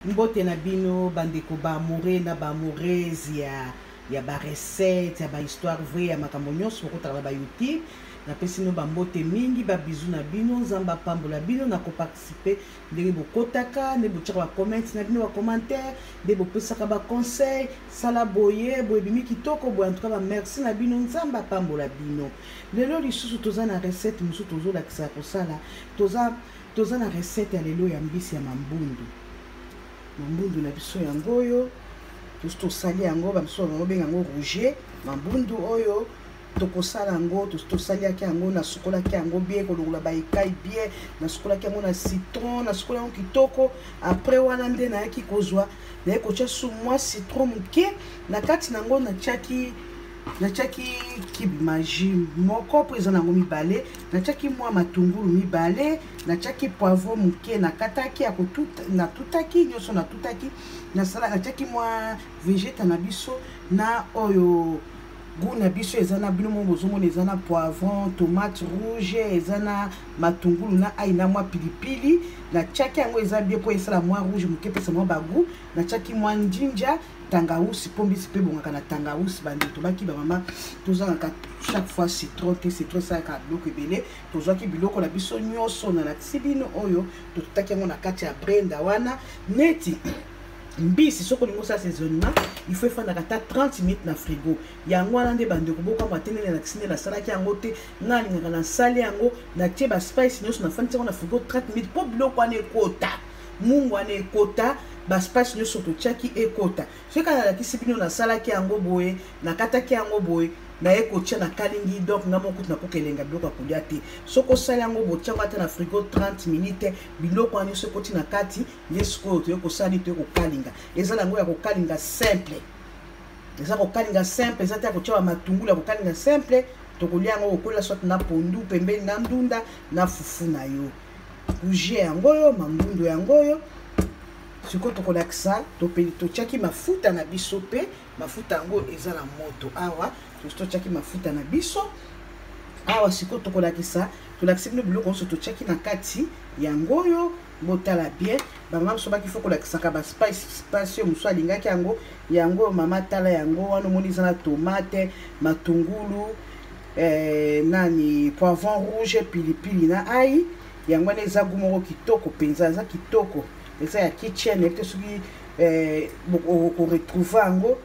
Mbote na bino bandeko ba amoureux na ba amoureuse ya ya ba recette ya ba histoire vrai ya makambo nyonso bokotaka na ba youtube napesi bino bambote mingi babizu na bino nzambe apambola bino na koparticipe ndenge bokotaka nde botyaka bacomente na bino bacommentaire nde bopesaka baconseil sala boye boye bimi kitoko boye antuka bamerci na bino nzambe apambola bino lelo lisusu toza na recette mosusu tozolakisa kosala toza Toza na recette ya lelo ya mbisi ya mambundu. Mambundu na biso yango oyo tosi tosali yango, bamisusu bango benga yango rouge. Mambundu oyo tokosala yango tosaliaki yango nasukolaki yango bie kolongola baekai bie nasukolaki yango na citron nasukola yango kitoko apres wana nde nayaki kozwa naye kotya su mwa citron moke na kati na yango natyaki natyaki kibi magi moko mpo eza na yango mibale natyaki mwa matungulu mibale natyaki poivro moke nakataki natutaki nyonso natutaki nasala natyaki mwa vegeta na biso na oyo goût na biso eza na bino moko bozomona eza na poivron tomate rouge eza na matungulu na ai na mwa pilipili natyaki yango eza bie mpo esala mwa rouge moke epesa mwa bagout natyaki mwa njinja tangawusi mpo mbisi mpe ebongaka na tangawusi bandeko tobaki bamama tozangaka chaque fois citron te citron esalaka biloko ebele tozwaki biloko na biso nyonso na lakisi bino oyo totutaki yango na kati ya brenda wana neti mbisi soki olingi osala saisonnement il faut efandaka ata 30 minutes na frigo yango wana nde bandeko bokamwa te ndenge lakisi nde nasalaki yango te ngai alingaka nasali yango natie baspice nyonso nafandisi yango na frigo 30 minutes mpo biloko wana ekota mungu wana ekota baspace nyonso totiaki ekota soki kaka nalakisi bino nasalaki yango boye nakataki yango boye naye kotia na kalingi donc nga moko kutu nakoka elenga biloko ya kolia te soki osali yango botiango ata na frigo 30 minute biloko wana nyonso ekoti na kati nde sikoyo toye kosala nini toye kokalinga eza na yango ya kokalinga simple eza kokalinga simple eza te ya kotia bamatungulu ya kokalinga simple tokolia yango kokola soit na pondu pembeni na ndunda na fufu na yo bougie yango oyo mangundu yango oyo sikoyo tokolakisa topeli totyaki mafuta na biso mpe mafuta yango eza na moto awa totyaki mafuta na biso awa sikoyo tokolakisa tolakisi bino biloko nyonso totyaki na kati yango oyo botala bien bamama mosusu baki fo kolakisaka baspice spice oyo mosusu alingaki yango yango oyo mama tala yango wana omoni eza na tomate matungulu eh, nani poivron rouge pilipili na ai yango wana eza gu moko kitoko mpenza eza kitoko eza ya kitchen ete soki eh, okoretrouve yango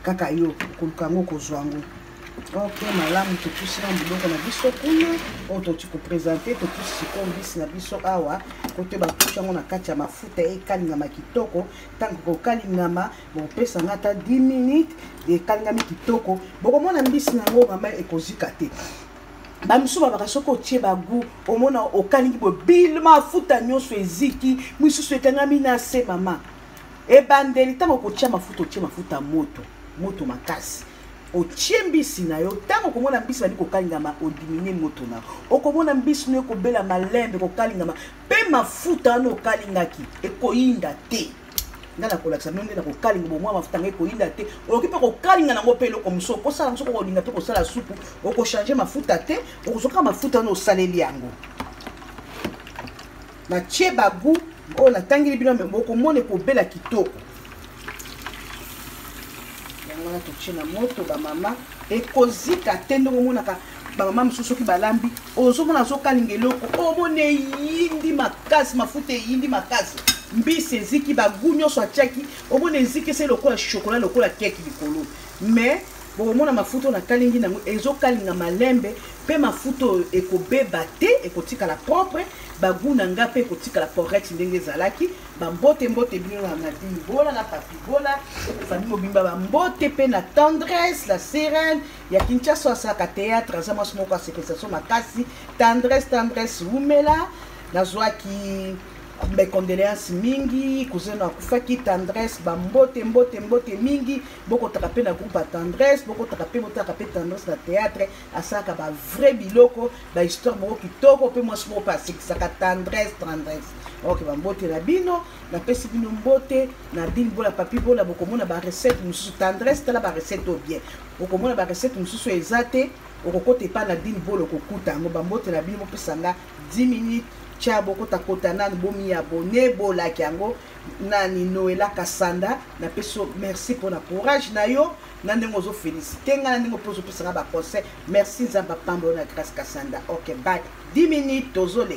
kaka yo koluka yango okozwa yango ok malamu totusi na biloko na biso kuna oyo toti kopresente totusi sikoyo mbisi na biso awa kote batuti yango na kati ya mafuta ekalingama kitoko ntango kokalingama bopesa nga ata 10 minutes ekalingami kitoko bokomona mbisi na yango mama ekozika te bamosusu babaka soki otie bagu omona okalingi boye bil mafuta nyonso eziki misusu ekangami na se mama ebandeli ntango okotya mafuta otie mafuta moto moto makasi otie mbisi na yo ntango okomona mbisi bandi kokalingama odiminye moto na okomona mbisi no ekobela malembe kokalingama mpe mafuta wana okalingaki ekoyinda te nga nakolakisa bino nde na kokalinga bomwa mafuta ngai koyinda te okoki mpe kokalinga nango mpe eloko mosusu okosala mosusu okolinga mpe kosala supu okochange mafuta te okozoka mafuta wana osaleli yango natie bagu oyo natangeli bino bokomona ekobela kitoko yango wana totie na moto bamama ekozika te ndenge omonaka bamama mosusu soki balambi ozomona azokalinga eloko omona eyindi makasi mafuta eyindi makasi mbisi eziki bagu nyonso atiaki omona eziki se lokola shokola lokola keke likolo mais bokomona mafuta oyo nakalingi nango ezokalinga malembe mpe mafuta oyo ekobeba te ekotikala propre bagu na nga mpe ekotikala correct ndenge ezalaki bambote mbote bino na nadini bola na papi bola fami mobimba bambote mpe na tendresse la serene ya kinshasa asaka théâtre aza mwasi moko asepelisa so makasi tendresse tendresse wumela nazwaki bacondoléance mingi kuzeno akufaki tendresse bambote mbote mbote mingi bokotaka mpe na groupe ya tendresse bokotaka mpe botaka mpe tendresse na théâtre asalaka bavrai biloko bahistoire moko kitoko mpe mwasi moko mpe asekisaka tendresse tendresse ok bambote na bino napesi bino mbote na bini bola papi bola bokomona barecette mosusu tendresse tala barecette oyo bien bokomona barecette mosusu eza te okokota epai na bini bola okokuta yango bambote na bino bopesa nga 10 minutes tya bokotakota nani bomiabone bolaki yango nani noela kasanda napesi yo merci mpona courage na yo na ndenge ozofelisite ngai na ndenge mpe ozopesa nga baconseil merci nzambe apamba yo na grace kasanda ok bak 10 minutes tozole